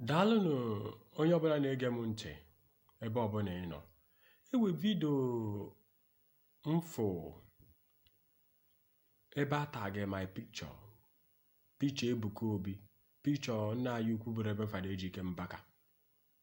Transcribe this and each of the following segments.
daalụnụ onye ọbụla na-ege m ntị ebe ọbụla ị nọ e nwe vidio m fụ ebe a tagị my picture picha Ebuka Obi picha nna anyị ukwu bụ Reverend Fada Ejike Mbaka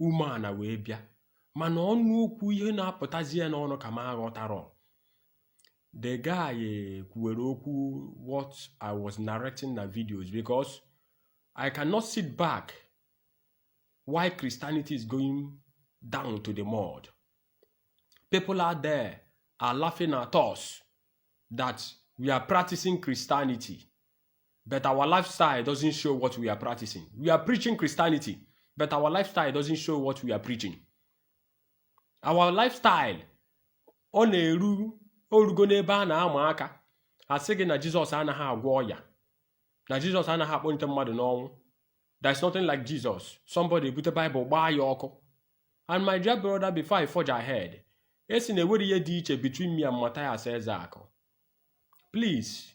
umeana wee bịa mana ọnụ okwu ihe na-apụtazi ya n'ọnụ ka m aghọtara the guy eh, kwuwere okwu what I was narrating na videos because I cannot sit back while Christianity is going down to the mud. People out there are laughing at us that we are practicing Christianity. but our lifestyle doesn't show what we are practicing. We are preaching Christianity, but our lifestyle doesn't show what we are preaching. Our lifestyle ọ na-eru o rugo n'ebe a na-ama aka a sị gị na Jizọs anaghị agwọ ọya na Jizọs anaghị akpọnite mmadụ n'ọnwụ there's nothing like Jizọs somebody ebute Bible gbaa ya ọkụ and my dear brother before I forge ahead ị sị na enwere ihe dị iche between me and Matthias Ezeaku please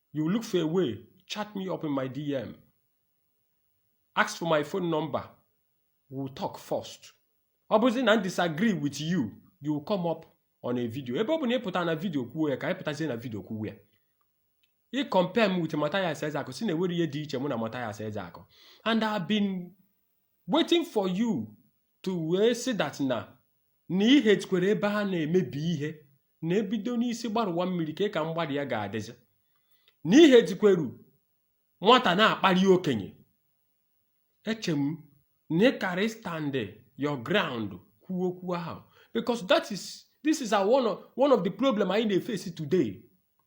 You look for a way, chat me up in my DM. Ask for my phone number. We'll talk first. Ọ bụzi na m disagree with you, you will come up on a video. Ebe ọ bụ na ị pụta na video kwuo ya ka anyị pụtazie na video kwuo ya. Ị compare m with Matthias Ezeaku sị na enwere ihe dị iche mụ na Matthias Ezeaku. And I've been waiting for you to say that na na i hetikwere ebe a na-emebi ihe na e bido n'isi gbarụwa mmiri kee ka mgbada ya ga-adịzi na i hetikweru nwata na-akpali okenye eche m na ị kara stand your ground kwuo okwu ahụ because that is this is our one of, one of the problem anyị na-efesi today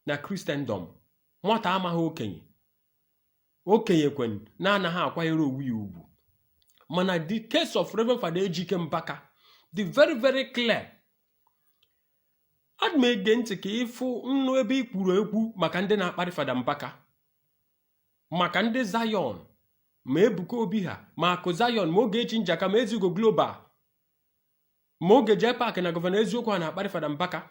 na Christendom nwata amaghị okenye okenye kwanụ na-anaghị akwanyere onwe ya ugwu mana the case of Reverend Fada Ejike Mbaka dị very very clear adị m ege ntị ka ị fụnụ ebe ị kwuru ekwu maka ndị na-akparị Fada Mbaka maka ndị Zion ma Ebuka Obi ha ma Akụ Zion ma Ogechi Njaka ma Ezigo Global ma Oge J Park na Gọvanọ Eziokwu ha na-akparị Fada Mbaka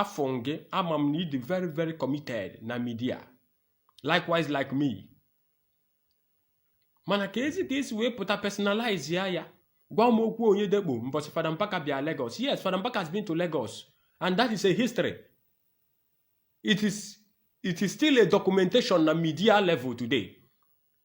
afụọ m gị ama m na ị dị very very committed na midia likewise like me mana keezi ka esi wee pụta personalize ya ya gwa m okwu onye dekpo mbọsị Fada Mbaka bịa Lagos yes Fada Mbaka has been to Lagos and that is a history it is it is still a documentation na media level today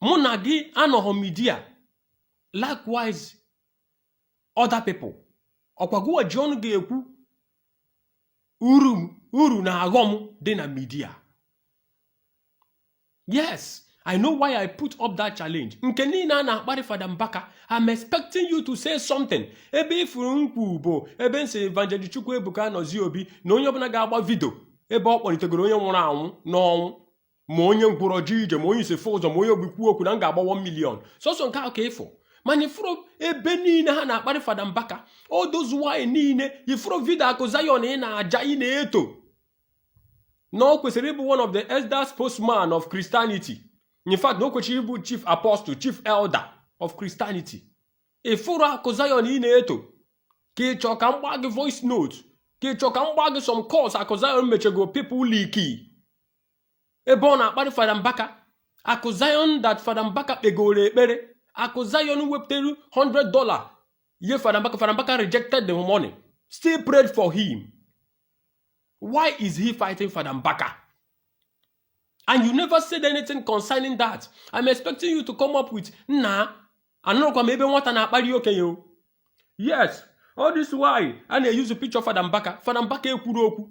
mụ na gị anọghọ midia likewise other people ọkwa gụwa ji ọnụ ga-ekwu uru na aghọm dị na midia yes i know why i put up that challenge nke niile a na-akparị fada mbaka i'm expecting you to say something ebe ị fụrụ nkwu bụ ebe m sị evangelist chukwuebuka anozie obi na onye ọbụla ga-agba vidio ebe ọ kpọlitegoro onye nwụrụ anwụ n'ọnwụ ma onye ngwụrọ jee ije ma onye isi fụ ụzọ ma onye ogbi kwuo okwu na m ga-agba 1 million sọsọ nke ahụ ka ị fụ mana ị fụrọ ebe niile ha na-akparị fada mbaka all those while niile ị fụrọ vidio akụ zayon ị na-aja ị na-eto na o kwesịrị ịbụ one of the elders spokesman of Christianity in fact na o kwesịrị ịbụ chief apostle chief elder of Christianity ị fụrụ akụ zayon ị na-eto ka ị chọọ ka m gbaa gị voice note ka ị chọọ ka m gbaa gị some calls akụ zayon mechego people leaky ebe ọ na-akparị fada mbaka akụ zion that fada mbaka kpegoro ekpere akụ zion wepụtara 100 dollar ye fada mbaka fada mbaka rejected the money still prayed for him why is he fighting fada mbaka and you never said anything concerning that i'm expecting you to come up with nna anụrụkwa m ebe nwata na-akparị okenye o yes all this while a na-eyuzu picture fada mbaka fada mbaka ekwurọ okwu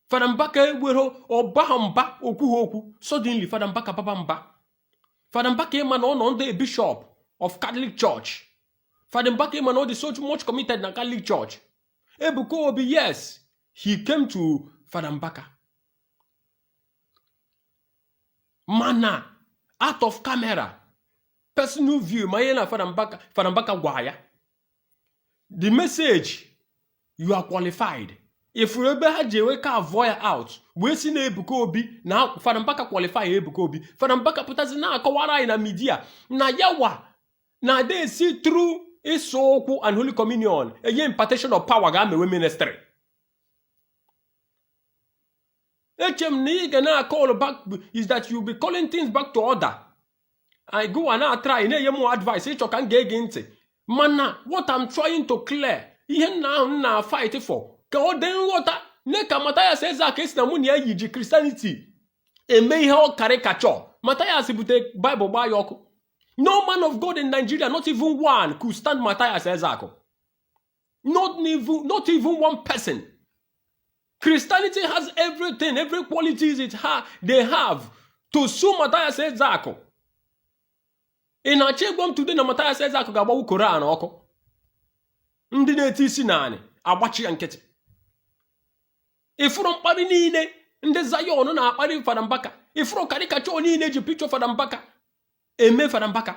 fada mbaka ewerọ ọ baha mba o kwuha okwu suddenly fada mbaka baba mba fada mbaka ị ma na ọ nọ under bishop of catholic church fada mbaka ị ma na ọ dị so much committed na catholic church ebuka obi yes he came to fada mbaka mana out of camera personal view ma ya na fada mbaka fada mbaka gwa ya the message you are qualified ị fụrụ ebe ha ji wee carve ya out wee sị na Ebuka Obi na Fada Mbaka qualify Ebuka Obi Fada Mbaka pụtazi na-akọwara anyị na midia na yawa na ada esi through ịsa ụkwụ and holy communion enye impartation of power gaa mewe ministry eche m na ị ga na-akọl back is that you be calling things back to order anyị gụwa na-atrai na-enye m advice ị chọ ka m ga-ege ntị mana what I'm trying to clear ihe nna ahụ m na-afight for ka ọ dị nghọta nee ka Mathias Ezeaku ị sị na mụ na ya yi ji Christianity eme ihe ọ caricature Mathias bute Bible gbaa ya ọkụ no man of God in Nigeria not even one could stand Mathias Ezeaku not even, not even one person Christianity has everything, every qualities it ha they have to sue Matthias Ezeaku. Ị na-achọ ịgwa m today na Matthias Ezeaku ga-agbanwu Koran ọkụ. Ndị na-eti isi n'anị agbachi ya nkịtị. Ị fụrụ mkparị niile ndị Zion na-akparị Fada Mbaka. Ị fụrụ caricature niile e ji picture Fada Mbaka eme Fada Mbaka.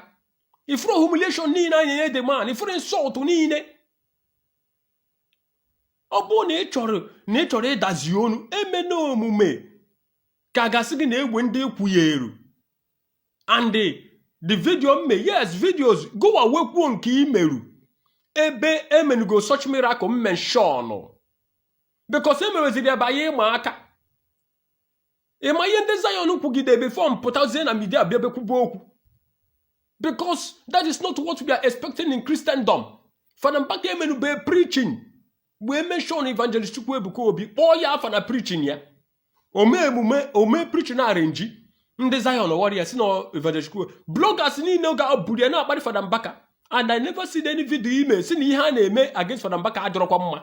Ị fụrụ humiliation niile a na-enye the man. Ị fụrụ insult niile ọ bụrụ na ị chọrọ na ị chọrọ ịdazi onu emena omume ka gasị gị na egbe ndị i kwunyeeru and the video mme yes videos gowa wee kwuo nke i meru ebe e menugo such miracle mention because emeweziri ebe anyị ịma aka ịma ihe ndị Zion kwugide before m pụtazie na media bịa bekwube okwu because that is not what we are expecting in Christendom fada mbaka emenube preaching wee mention evangelist chukwu ebuka obi kpọọ ya afa na preaching ya ome emume o mee preaching arrangee ndị Zion warriors na evangelist chukwu bloggers niile ga-eburu ya na-akparị fada mbaka and I never seen any video i me sị na ihe a na-eme against fada mbaka adọrọkwa mma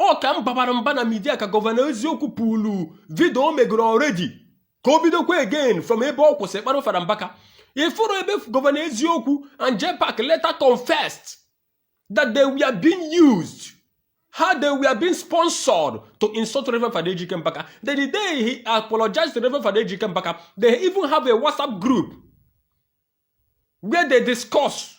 ọ ka m babara mba na media ka Governor Eziokwu pull video o megoro already ka o bidokwa again from ebe ọ kwụsị kparị Fada Mbaka ị fụrụ ebe Governor Eziokwu and JPAC later confessed that they were being used how they were being sponsored to insult Reverend Fada Ejike Mbaka. Then the day he apologized to Reverend Fada Ejike Mbaka, they even have a WhatsApp group where they discuss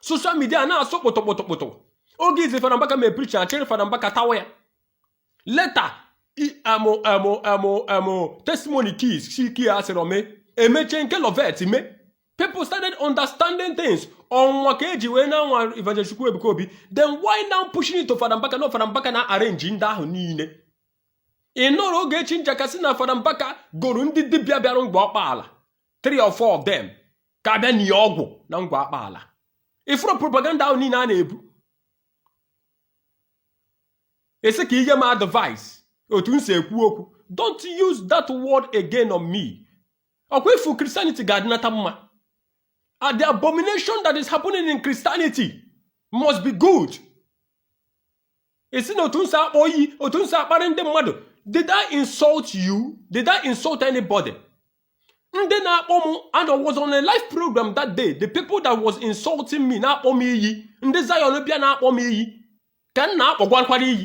social media na-asụ kpụtụkpụtụkpụtụ oge izi fada mbaka mee preaching achịrị fada mbaka tawa ya later amụ amụ amụ amụ testimony keys shiki ya sịrị ome emechaa nke Loveth mee people started understanding things ọnwa ka e ji wee na-anwa Evangelist Chukwuebuka Obi then why now pushing it to fada mbaka na fada mbaka na-arrange ndị ahụ niile ị nọrọ Ogechi Njaka sị na fada mbaka goro ndị dibịa bịara Ngor Okpala three or four of them ka a bịa nie ọgwụ na Ngor Okpala ị fụrụ propaganda ahụ niile a na-ebu ị sị ka i nye m advice otu m si ekwu okwu don't use that word again on me ọkwa ifu Christianity ga-adịnata mma and the abomination that is happening in Christianity must be good ị sị na otu m si akpọ iyi otu m si akparị ndị mmadụ did I insult you did I insult anybody ndị na-akpọ m and I was on a live program that day the people that was insulting me na-akpọ m iyi ndị Zion bịa na-akpọ m iyi ka m na-akpọgwakwara iyi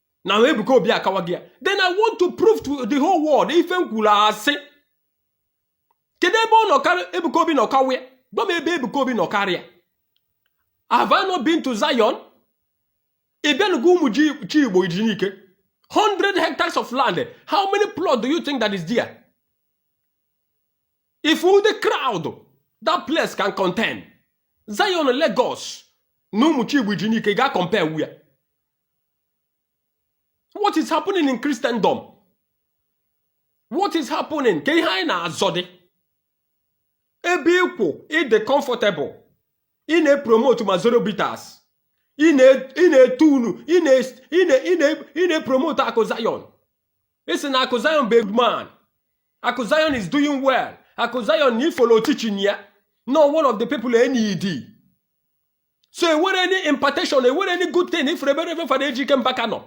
na Ebuka Obi akawaghị ya then I want to prove to the whole world if m kwuru asị kedu ebe ọ nọ karị Ebuka Obi nọ kawa ya gwa m ebe Ebuka Obi nọ karịa have I not been to Zion ị bịa Enugu Umuchigbo Iji Nike 100 hectares of land how many plots do you think that is there if all the crowd that place can contain Zion Lagos na Umuchigbo Iji Nike ga compare wu ya what is happening in Christendom what is happening kee ihe anyị na-azọdị ebe ị kwụ ị dị comfortable ị na-epromote Mazoro bitters ị na-etu ọnụ ị na-epromote akụ Zion ị sị na akụ Zion bụ man akụ Zion is doing well akụ Zion na-efollow teaching ya no one of the people enyi di so enwere any impartation enwere any good thing ị fụrụ ebe Reverend Fada Ejike Mbaka nọ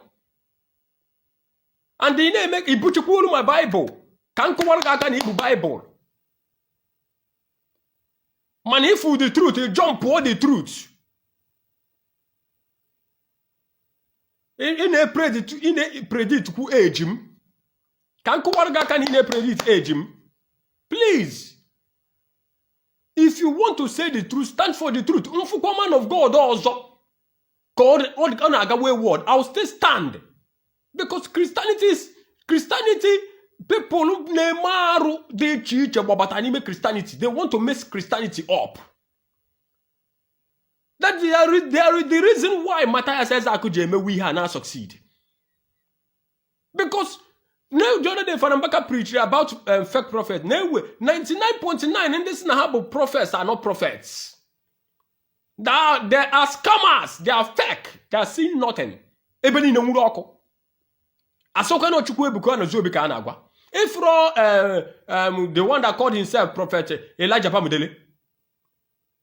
and ị na-eme ibuchikwa olu ma baịbụl ka m kụwara gị aka na i bu baịbụl mana ị fụ the truth jump pụọ the truth ị na-epredict kwu age m ka m kụwara gị aka na ị na-epredict age m please if you want to say the truth stand for the truth m fụkwa man of god ọzọ ka ọ na-aga wayward i will still stand because christianity is christianity people na-eme arụ dị iche iche gbabata n'ime christianity they want to mess christianity up that is the reason why Matthias Ezeaku ji emewe ihe a na-asucceed because na the other day Fada Mbaka preached about um, fake prophet na ewe 99.9 ndị sị na ha bụ prophets are not prophets they are, they are scammers they are fake they are seeing nothing ebe niile nwuru ọkụ a sịkwa na Chukwuebuka Anozie Obi ka a na-agwa ị fụrọ um, um, the one that called himself prophet Elijah Bamidele